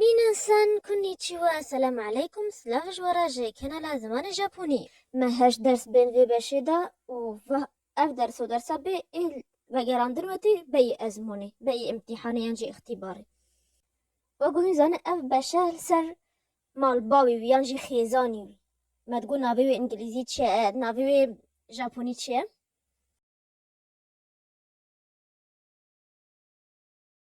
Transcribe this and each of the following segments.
Minasan konnichiwa Selam aleykum Silav ji we re ji kanala Zimanê Japonî. Me heşt ders bên vê beşê de û va ev ders û dersa bê ê vegerandin wetî beyî ezmûnê, beyî îmtîhanê yan jî îxtîbarê. We guhîn zanî ev beşe li ser malbawî wî yan jî xêzanî wî. Me digot navê wê îngilîzî çi ye, navê wê japonî çi ye?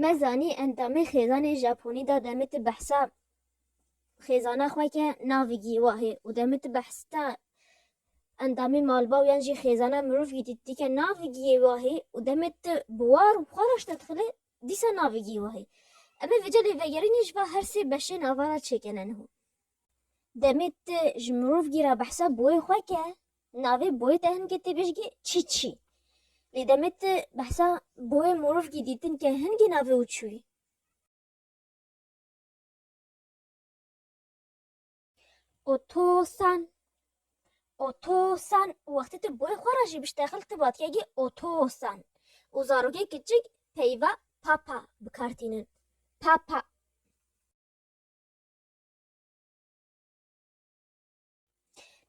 Me zanî endamê xêzanê Japonî da demê ti behsa xêzana xwe ke navê Gîwahê û demê ti behsta endamê malbaw yan jî xêzana mirov jî dîtî ke navê Gîwahê û demê ti bi war û xwe re şte dixile dîsa navê Gîwahê. Em ê vê celê vegerînê ji ber her sê beşê nava re çêkene niho. Demê tu ji mirovkî re behsa boyê xwe ke, navê boyê te hin ke tê bêjgî çî çî. Lê demê tu behsa boyê mirovkî dîtin ke hin kî navê û çûyî. Otosan, otosan û wextê tu boyê xwe re jî biştexil tu vatgegî otosan û zarokê kiçik peyva papa bi kar tînin. Papa.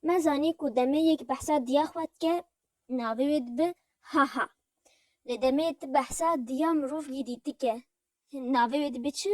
Me zanî ku demê yek behsa diya xwe dike navê wê dibe Haha. Lê demê ti behsa diya mirov gîdî dike navê wê dibe çi?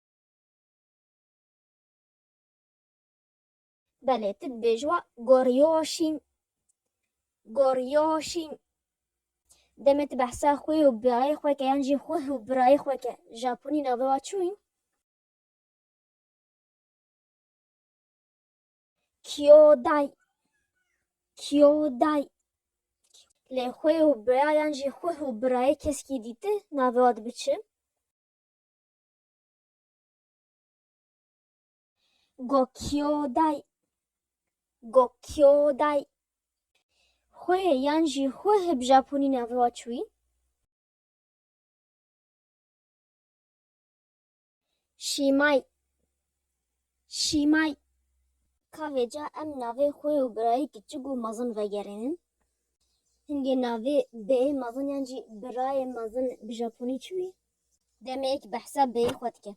Belê tu dibêj wa gorîyoşîm, gorîyoşîm. Demê tu behsa xwê û birayê xwe ke yan jî xweh û birayê xwe ke Japonî navê wa çû yîn? Kyoday, kyoday. Lê xwê û bira yan jî xweh û birayê keskî dîti navê wa dibi çi? Gokyoday Gokyoday Xwe yan jî xwe hib Japonî navê wa çûyî? Şîmay Şîmay Ka vêca em navê xwe û birayê kiçik û mezin vegerînin? Hingê navê bêyê mezin yan jî birayê mezin bi Japonî çûyî? Demeyê ki behsa bêyî xwe dike.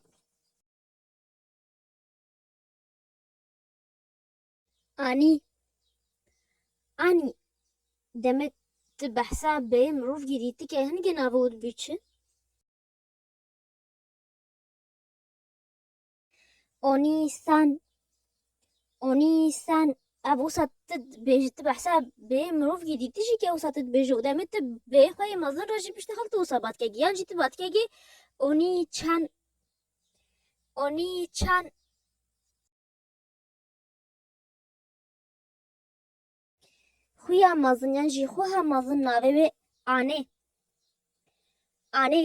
Anî Anî deme ti behsa bêyê mirov girî ti ke hin gena rû û dibî çi? Onîsan Onîsan ev wisa tu dibêjî tu behsa bê mirovkî dîtî jî ke wisa tu dibêjî û demê tu bê xwe yê mezin re jî piştî xwe tu wisa batkegî yan jî tu batkegî Onîçan Onîçan Xuya mezin yan jî xuha mezin navê wê Anê Anê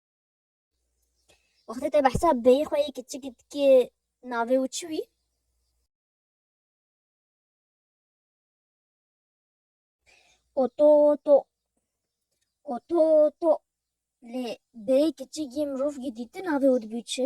Wextê te behsa bêyê xwe yê kiçik dikê navê û çi wî? Oto oto. Oto oto. Lê bêyê kiçik yê mirov yê dîti navê û dibû çi?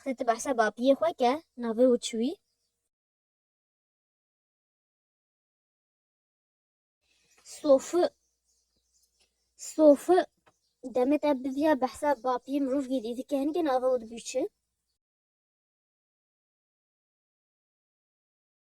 Xwedî tu behsa bapiyê xwe ke navê wî çi wî? Sofi Sofi Demê te biviya behsa bapiyê mirov gêdî dike hin ke navê wî dibî çi?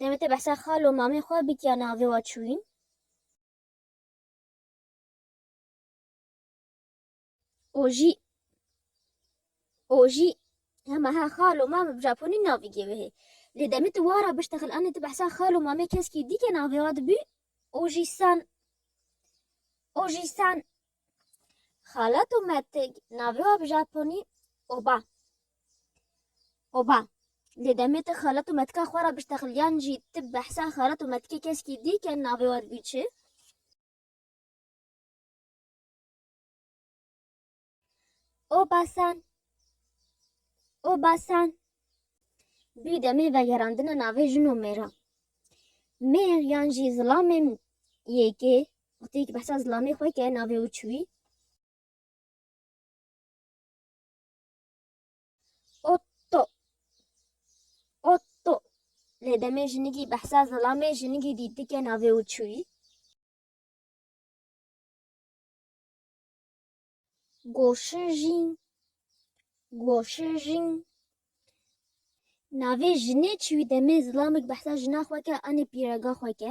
Demê te behsa xal û mamê xwe bik ya navê we çûyîn. Ojî Ojî hema he xal û mamê bi Japonî navê giye wê hê. Lê demê tu wara biştexil anê tu behsa xal û mamê keskî dîkê navê we dibî Ojî-san. Ojî-san. Xalat û metig navê wan bi japonî oba. Oba. Lê demê te xalat û metika xwe re biştexil yan jî tu behsa xalat û metikê keskî dî ke navê wan bû çi? Oba-san. Oba-san. Bû demê vegerandina navê jin û mêra. Mêr yan jî zilamên yekê Wextê ku behsa zilamê xwe ke navê wî çi wî. Otto Otto lê demê jinigî behsa zilamê jinigî dîti ke navê wî çi wî. Goşijîn Goşijîn Navê jinê çi wî demê zilamê ku behsa jina xwe ke anê pîrega xwe ke.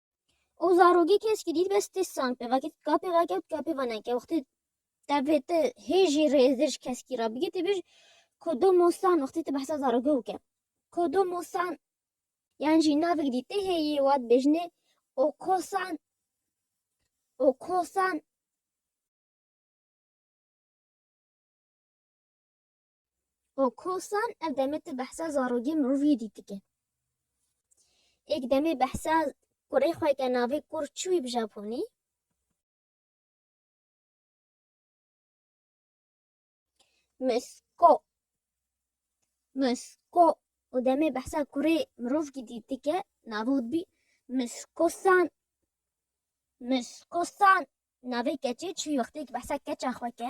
O zarogê keskî dît bes tê sang pê vekê tika pê veke û tika pê veneke wextê tevê te hêjî rêzir ji keskî re bigê tê bêj kodo mosan wextê te behsa zarogê bike kodo mosan yan jî navik dî tê hêyê wa dibêjinê o kosan o kosan û kosan ev demê tu behsa zarokê mirovî dîtike. Êk demê behsa kurê xwe ke navê Kur çûyî bi Japonî. Misko Misko û demê behsa kurê mirovkî dîtike navê û dibî Miskosan Miskosan navê keçê çûyî wextê ke behsa keça xwe ke.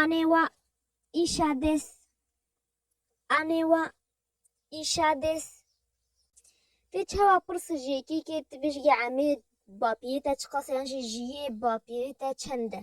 Anê wa îşa dês. Anê wa îşa dês. Tê çawa pirsa ji yekêkê tu bêjîgê emê bapîrê te çi qas e yan jî jiyê bapîrê te çend e.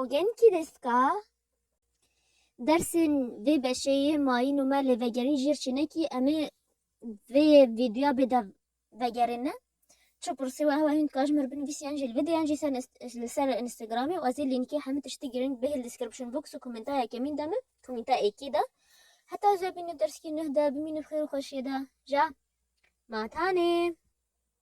Ogen kî dest ka? Dersên vê beşê yê mayîn û me lê vegerîn jîr çînekî em ê vê vîdyoya bê dev vegerê ne çi pirsî û ew e hîn dika ji min re binivîsî yan jî li vîdyo yan jî ser li ser Instagramê û ez ê lînkê hemû tiştî girîng bihê li description box û komenta yekemîn de me komenta êkî de heta ez ê bînim derskî nuh de bimîne bi xêr û xweşiyê de ja ma tanê.